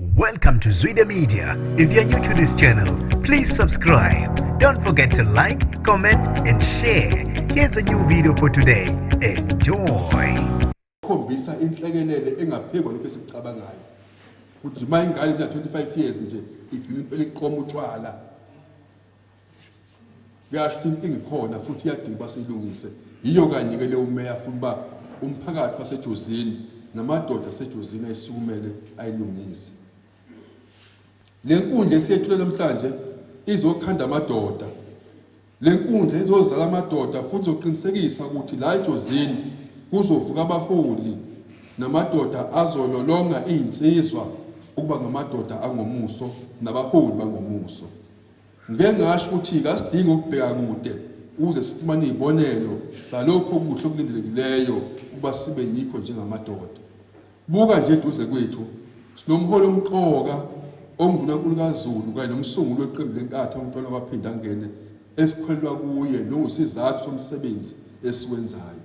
Welcome to Zwide Media. If you're new to this channel, please subscribe. Don't forget to like, comment and share. Here's a new video for today. Enjoy. Khombisa inhlekelele engaphezulu lokho esikucabangayo. Kujima ingane nje 25 years nje igcina impela iqoma utshwala. Kuyasho inkinga ikhona futhi iyadinga uba siyilungise. Yiyo kanye-ke le umeya funa uba umphakathi wasejozini namadoda asejozini ayisukumele ayilungise. Le nkundla esiyethule namhlanje izokhanda amadoda. Le nkundla izozala amadoda futhi izoqinisekisa ukuthi la ejozini kuzovuka abaholi namadoda azololonga iy'nsizwa ukuba ngamadoda angomuso nabaholi bangomuso. Ngike ngasho ukuthi kasidingi ukubheka kude ukuze sifumane izibonelo zalokho okuhle okulindelekileyo ukuba sibe yikho njengamadoda. Buka nje eduze kwethu sinomholi omqoka onguNkulunkulu kaZulu kanye nomsunguli weqembu lenkatha uMntwana kwaphinde angene esikholelwa kuye nowusizathu somsebenzi esiwenzayo.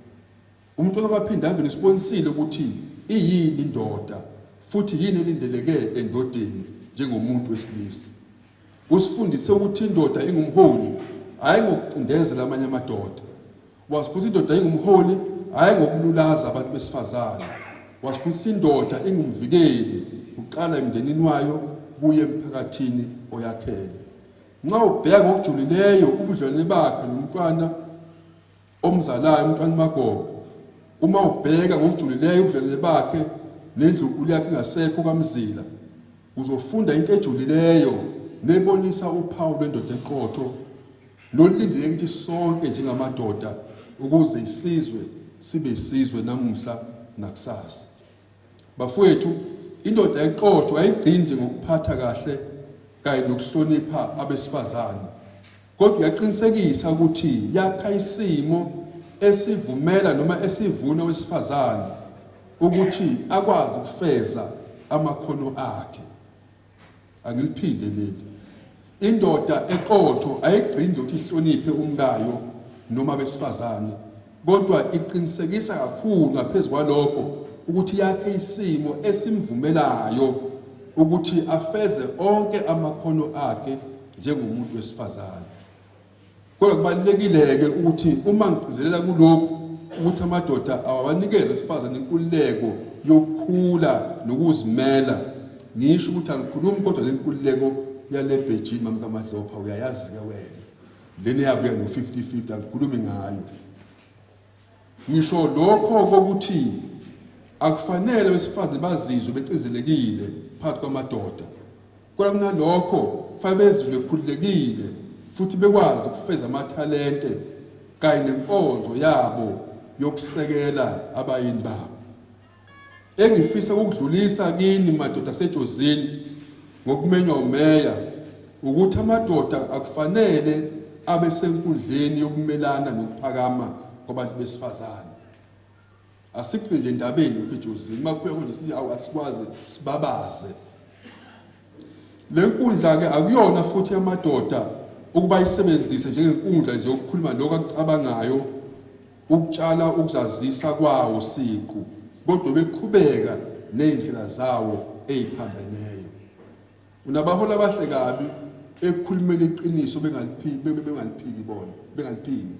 Umculo kaPhindanga nisibonisile ukuthi iyini indoda futhi yini elindeleke endodeni njengomuntu wesilisa. Usifundise ukuthi indoda ingumholi hhayi ngokucindezela amanye amadoda. Wasifundisa indoda ingumholi hhayi ngokululaza abantu besifazane. Wasifundisa indoda ingumvikeli kuqala emndenini wayo kuye emphakathini oyakhele. Nxa ubheka ngokujulileyo ubudlelwane bakhe nomntwana omzalayo uMntwana uMagogo uma ubheka ngokujulileyo ubudlelwane bakhe nendlunkulu yakhe ingasekho kaMzila uzofunda into ejulileyo nebonisa uphawu lwendoda eqotho nolindele ukuthi sonke njengamadoda ukuze isizwe sibe isizwe namuhla nakusasa Bafowethu, indoda eqotho ayigcindi ngokuphatha kahle kanye nokuhlonipha abesifazane, kodwa uyaqinisekisa ukuthi yakha isimo esivumela noma esivuna owesifazane ukuthi akwazi ukufeza amakhono akhe. angiliphinde leli indoda eqotho ayigcini ukuthi ihloniphe umkayo noma besifazane kodwa iqinisekisa kakhulu ngaphezu kwalokho ukuthi yakhe isimo esimvumelayo ukuthi afeze onke amakhono akhe njengomuntu wesifazane Kodwa kubalulekile-ke ukuthi uma ngigcizelela kulokhu ukuthi amadoda awabanikeze esifazane inkululeko yokukhula nokuzimela ngisho ukuthi angikhulumi kodwa le nkululeko yale bhejini mamkamadlopha uyayazi-ke wena lena eyabuya ngo-50 50 angikhulumi ngayo Ngisho lokho kokuthi akufanele abesifazane bazizwe becinzelekile phakathi kwamadoda kodwa kunalokho kufanele bezizwe bekhululekile futhi bekwazi ukufeza amathalente kanye nenkonzo yabo yokusekela abayini babo Engifisa ukudlulisa kini madoda aseJozini ngokumenywa umeya ukuthi amadoda akufanele abe senkundleni yokumelana nokuphakama kwabantu besifazane. Asigcini nje endabeni lokhu eJozini, uma kuphekwa nje sithi awu asikwazi sibabaze. Le nkundla-ke akuyona futhi yamadoda ukuba ayisebenzise njengenkundla nje yokukhuluma lokho akucabangayo, ukutshala ukuzazisa kwawo siqu, kodwa beqhubeka nezindlela zawo eziphambeneyo. Unabaholi abahle kabi ekukhulumeni iqiniso bengaliphiki bona, bengaliphiki.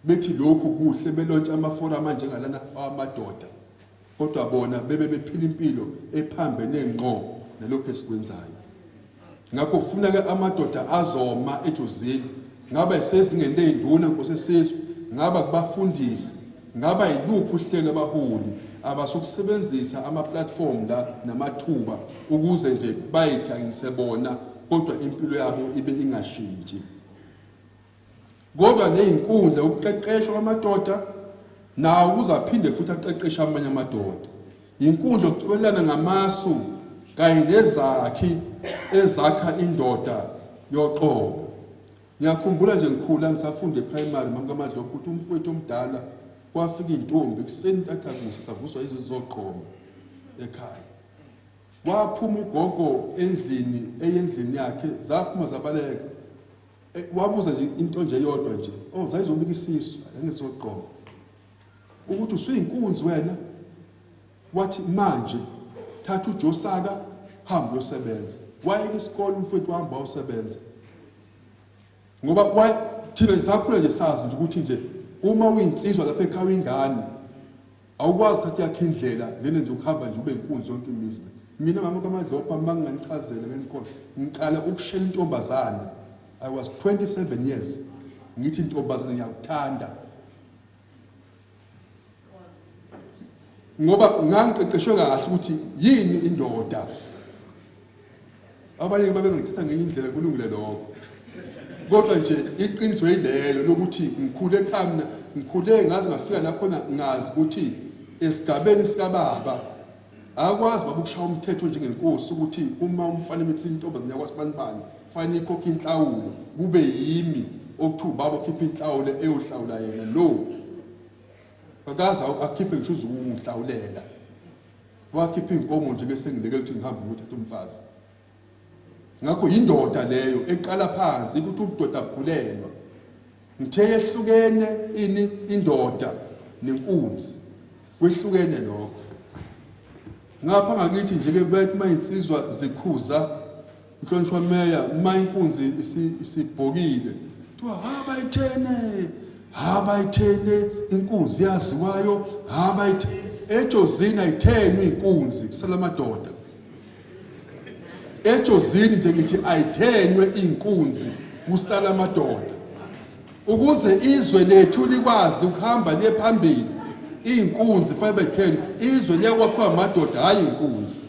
Bethi lokhu kuhle belontsha amaforamu anjengalana awamadoda kodwa bona bebe bephila impilo ephambene ngqo nalokho esikwenzayo. Ngakho funa ke amadoda azoma ejozini ngaba isezingeni leyinduna nkosesizwe ngaba kubafundisi ngaba yiluphi uhlelo abaholi abasukusebenzisa ama platform la namathuba ukuze nje bayithangise bona kodwa impilo yabo ibe ingashintshi Kodwa nezinkundla ukuqeqeshwa kwamadoda nawo kuzaphinde futhi aqeqeshe amanye amadoda. Inkundla okucobelelana ngamasu kanye nezakhi ezakha indoda yoqobo. Ngiyakhumbula nje ngikhula ngisafunda eprimary mamkamadlo ukuthi umfowethu omdala kwafika intombi kuseni ntatha kusa savuswa izwe zoqobo ekhaya. Waphuma ugogo endlini eyendlini yakhe zaphuma zabaleka Eh, wabuza nje into nje yodwa nje oh zayizobika isisu yangizoqoma ukuthi usuyinkunzi wena wathi manje thatha ujosaka hamba uyosebenza wayeke isikole umfowethu wahamba wayosebenza ngoba thina ngisakhula nje sazi nje ukuthi nje uma uyinsizwa lapha ekhaya ingane Awukwazi ukuthatha yakhe indlela lena nje ukuhamba nje ube inkunzi yonke imizi. Mina mama kaMadlopha uma nginganichazela ngenikhona ngiqala ukushela intombazane. I was 27 years. Ngithi intombazane ngiyakuthanda. Ngoba ngangiqeqeshwe kahle ukuthi yini indoda. abanye babengithatha ngenye indlela kulungile lokho kodwa nje iqiniso yilelo lokuthi ngikhule ekhaya mina ngikhule ngaze ngafika lakhona ngazi ukuthi esigabeni sikababa akwazi baba ukushaya umthetho njengenkosi ukuthi uma umfana emethi intombazane yakwasibanibani fanele ikhokhe inhlawulo kube yimi okuthi ubaba okhipha inhlawulo eyohlawula yena lo akaze akhiphe ngisho uzukungihlawulela wakhipha inkomo nje bese ngileke ukuthi ngihambe ngiyothatha umfazi ngakho yindoda leyo eqala phansi ukuthi ubudoda bugulelwa ngithe yehlukene ini indoda nenkunzi kwehlukene lokho ngapha ngakithi nje ke bathi mayinsizwa zikhuza Mhlonishwa Meya, uma inkunzi isibhokile kuthiwa haba ithene haba ithene inkunzi yaziwayo haba ithene ejozini ayithenwe inkunzi kusala amadoda ejozini nje ngithi ayithenwe inkunzi kusala amadoda ukuze izwe lethu likwazi ukuhamba liye phambili iy'nkunzi fanele betheni izwe liyakwakhiwa amadoda hhayi iy'nkunzi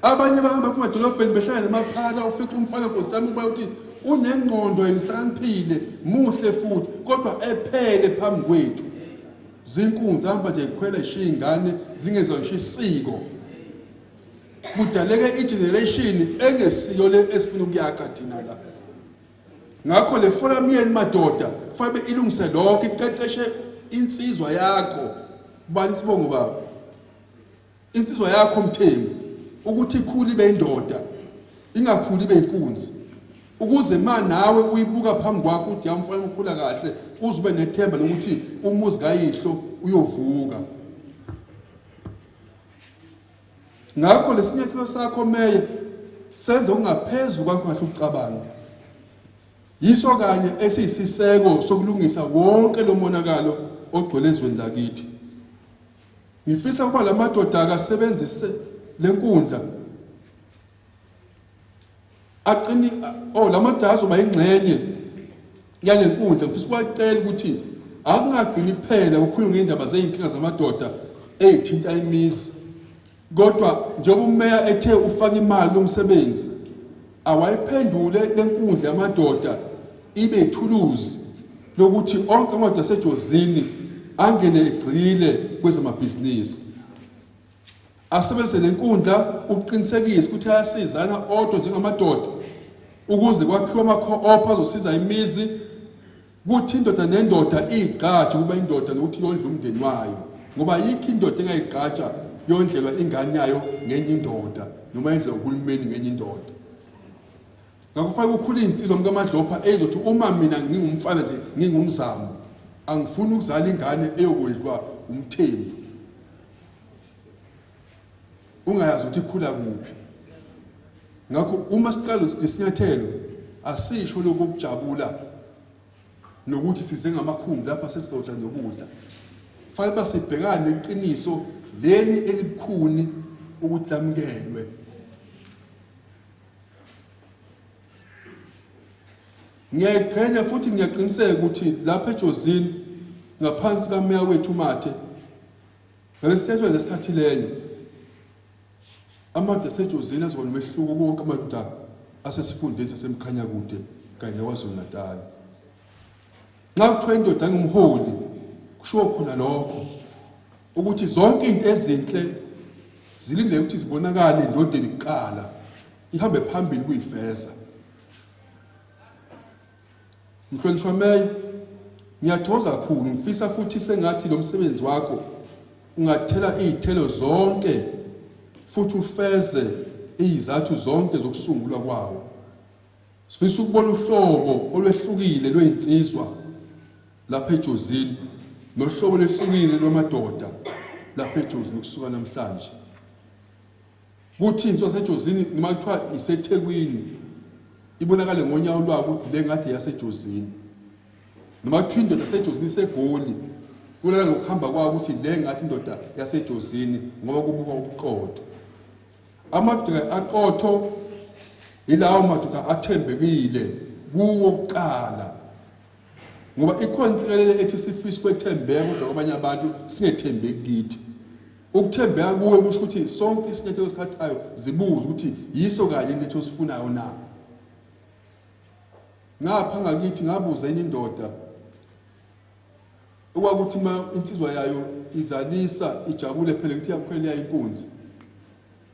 abanye bahamba phuma edolobheni behlala namaphara ufica umfana nkosami uba uthi unengqondo enhlaniphile muhle futhi kodwa ephele phambi kwethu zinkunzi hamba nje ikhwela ishiya ingane zingezwa ngisho isiko kudaleke igeneration engesiyo le esifuna ukuyakha thina la ngakho le forum yenu madoda fabe ilungise lokho iqeqeshe insizwa yakho bani sibongo baba Insizwa yakho Mthembu ukuthi ikhule ibe indoda ingakhuli ibe inkunzi ukuze ma nawe uyibuka phambi kwakho uthi yamfana ukhula kahle uze ube nethemba lokuthi umuzi kayihlo uyovuka ngakho lesinyathelo sakho meye senze ungaphezulu kwakho kahle ukucabanga yiso kanye esiyisiseko sokulungisa wonke lo monakalo ogcwele ezweni lakithi Ngifisa ukuba la madoda akasebenzise le nkundla aqini oh la madoda azoba ingxenye yale nkundla ngifisa ukuwacela ukuthi akungagcini kuphela ukukhuluma ngendaba zey'nkinga zamadoda ey'thinta imizi Kodwa njengoba umeya ethe ufaka imali lomsebenzi awayiphendule lenkundla yamadoda ibe ithuluzi lokuthi onke amadoda asejozini angene egxile kwezamabhizinisi asebenzise lenkundla ukuqinisekisa ukuthi ayasizana odwa njengamadoda ukuze kwakhiwe ama-co-op azosiza imizi Kuthi indoda nendoda igqaje ukuba indoda nokuthi yondle umndeni wayo ngoba ayikho indoda engayigqaja yondlelwa ingane yayo ngenye indoda noma yondlelwa uhulumeni ngenye indoda ngakufanele kukhule iy'nsizwa mkamadlopha eyizothi uma mina ngingumfana nje ngingumzamo angifuni ukuzala ingane eyokondliwa umthembu ungayazi ukuthi ikhula kuphi ngakho uma siqala isinyathelo asisho lokho kujabula nokuthi size ngamakhumbi lapha sesizodla nokudla fanele uba sibhekane neqiniso leli elibukhuni ukuthi lamukelwe ngiyayiqhenya futhi ngiyaqiniseka ukuthi lapha ejozini ngaphansi kameya wethu mathe Ngalesithetho nesithathileyo amadoda aseJozini azoba nomehluko konke amadoda asesifundeni saseMkhanyakude kanye neKwaZulu-Natal. Nxa kuthiwa indoda engumholi kushiwo khona lokho ukuthi zonke izinto ezinhle zilindele ukuthi zibonakale endodeni kuqala ihambe phambili kuyifeza Mhlonishwa Meya, ngiyathokoza kakhulu ngifisa futhi sengathi lo msebenzi wakho ungathela izithelo zonke futhi ufeze izizathu zonke zokusungulwa kwawo. Sifisa ukubona uhlobo olwehlukile lwezinsizwa lapha eJozini nohlobo lwehlukile lwamadoda lapha eJozini kusuka namhlanje. Kuthini sosejozini noma kuthiwa isethekwini ibonakale ngonyawo lwayo ukuthi le ngathi yasejozini noma kuthiwa indoda sejozini isegoli kulala ngokuhamba kwayo ukuthi le ngathi indoda yasejozini ngoba kubuka ubuqotho amadoda aqotho yilawo madoda athembekile kuwo kuqala Ngoba ikhona insikelelo ethi sifisa ukwethembeka kodwa kwabanye abantu singethembeki kithi. Ukuthembeka kuwe kusho ukuthi sonke isinyathelo esithathayo zibuze ukuthi yiso kanye into osifunayo na. Ngapha ngakithi ngabuza enye indoda okwakuthi uma insizwa yayo izalisa ijabule phela ngithi yakukhwela inkunzi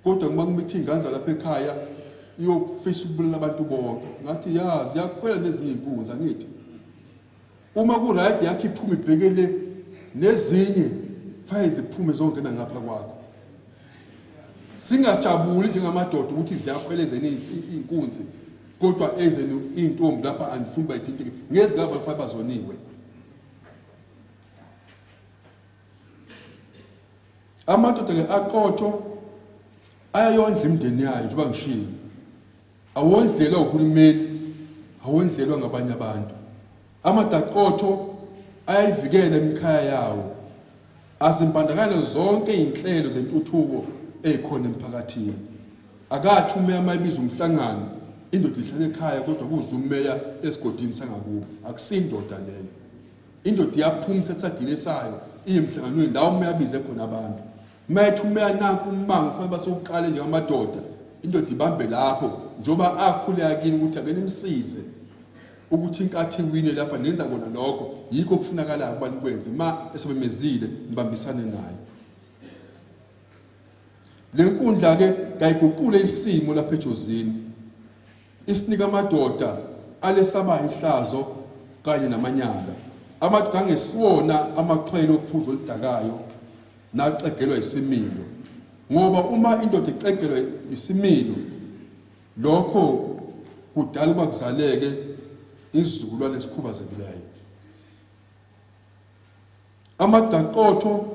kodwa uma kumithi iy'ngane zalapha ekhaya iyokufisa ukubulala abantu bonke ngathi ya ziyakhwela nezinye iy'nkunzi angithi uma kurayidi yakho iphuma ibhekele nezinye fanele ziphume zongena ngapha kwakho singajabuli njengamadoda ukuthi ziyakhwela ezeni iy'nkunzi kodwa ezeni iy'ntombi lapha andifuni bayithinteke ngezikaba fanele bazoniwe amadoda ke aqotho ayayondla imndeni yayo njengoba ngishilo awondlelwa uhulumeni awondlelwa ngabanye abantu amadaqotho ayayivikela imikhaya yawo azimbandakanye zonke izinhlelo zentuthuko ezikhona emphakathini akathi umeya mayibiza umhlangano indoda ihlale ekhaya kodwa kuze umeya esigodini sangakubo akusindoda leyo Indoda iyaphuma ithatha isagile sayo iye emhlanganweni ndawo uma yabize khona abantu. Uma ethi uma yananka ummango kufanele basewuqale njengamadoda indoda ibambe lapho njengoba akhuleka kini ukuthi ake nimsize ukuthi inkathi iwine lapha nenza kona lokho yikho okufunakalayo ukuba nikwenze uma esebemezile nibambisane naye le nkundla-ke kayiguqule isimo lapha ejozini Isinika amadoda alesabayo ihlazo kanye namanyala. Amadoda angesiwona amaxhwele ophuzo oludakayo naxegelwa isimilo. Ngoba uma indoda ixegelwa isimilo lokho kudala ukuba kuzaleke izizukulwane esikhubazekileyo. Amadaqotho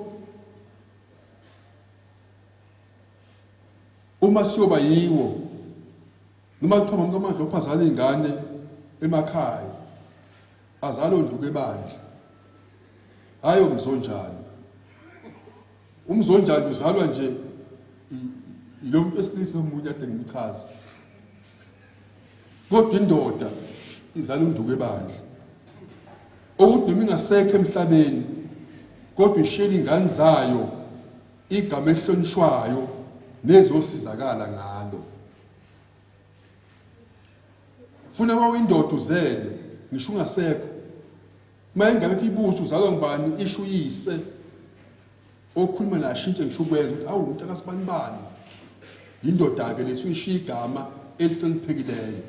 Uma siyoba yiwo noma kuthiwa mamkamandla ophazala iy'ngane emakhaya azalo nduku ebandla hhayi omzonjani umzonjani uzalwa nje lo muntu wesilisa omunye ade ngimchaza kodwa indoda izala unduku ebandla owudumi ingasekho emhlabeni kodwa ishiyela iy'ngane zayo igama elihlonishwayo nezosizakala ngalo funa uma uyindoda uzele ngisho ungasekho uma engabekho ibuso uzalwa ngubani isho uyise okhuluma naye ashintshe ngisho ukwenza ukuthi awu umuntu akasibanibani yindoda-ke lesuyishiya igama elihloniphekileyo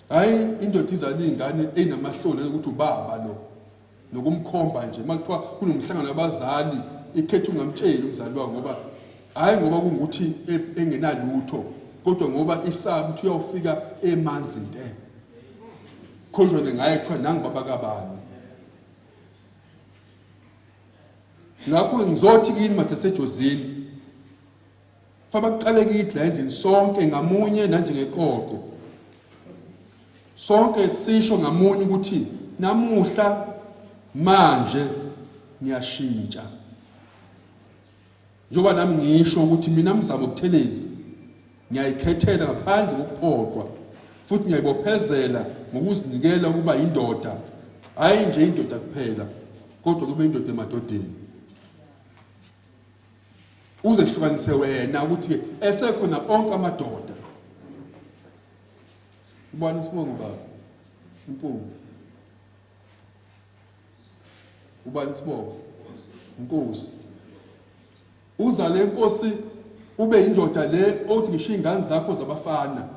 hhayi indoda izala iy'ngane eyinamahloni ukuthi ubaba lo nokumkhomba nje uma kuthiwa kunomhlangano wabazali ikhetha ungamtsheli umzali wakho ngoba hhayi ngoba kungukuthi e- engenalutho kodwa ngoba isaba ukuthi uyawufika emanzi nte khonjwane ngaye kuthiwa nangibaba kabani ngakho ngizothi kini mathasejozini Faba kuqale kithi la endlini sonke ngamunye nanjengeqoqo. Sonke sisho ngamunye ukuthi namuhla manje ngiyashintsha. Njoba nami ngisho ukuthi mina mzamo buthelezi ngiyayikhethela ngaphandle kokuphoqwa futhi ngiyayibophezela ngokuzinikela ukuba indoda hayi nje indoda kuphela kodwa kube indoda emadodeni uzehlukanise wena ukuthi esekhona onke amadoda ubani isibongo baba impungu ubani isibongo inkosi uzale inkosi ube indoda le othi ngisho ingane zakho zabafana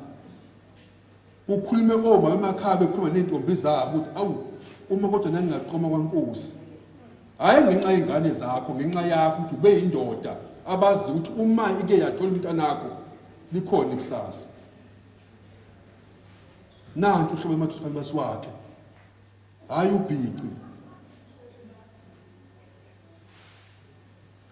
Kukhulume omama emakhaya bekhuluma ney'ntombi zabo ukuthi awu uma kodwa nangingaqoma kwankosi hhayi ngenxa yey'ngane zakho ngenxa yakho ukuthi ube yindoda abazi ukuthi uma ike yathola umntanakho likhona ikusasa nanti uhlobo emathi ufanele basiwakhe hhayi ubhici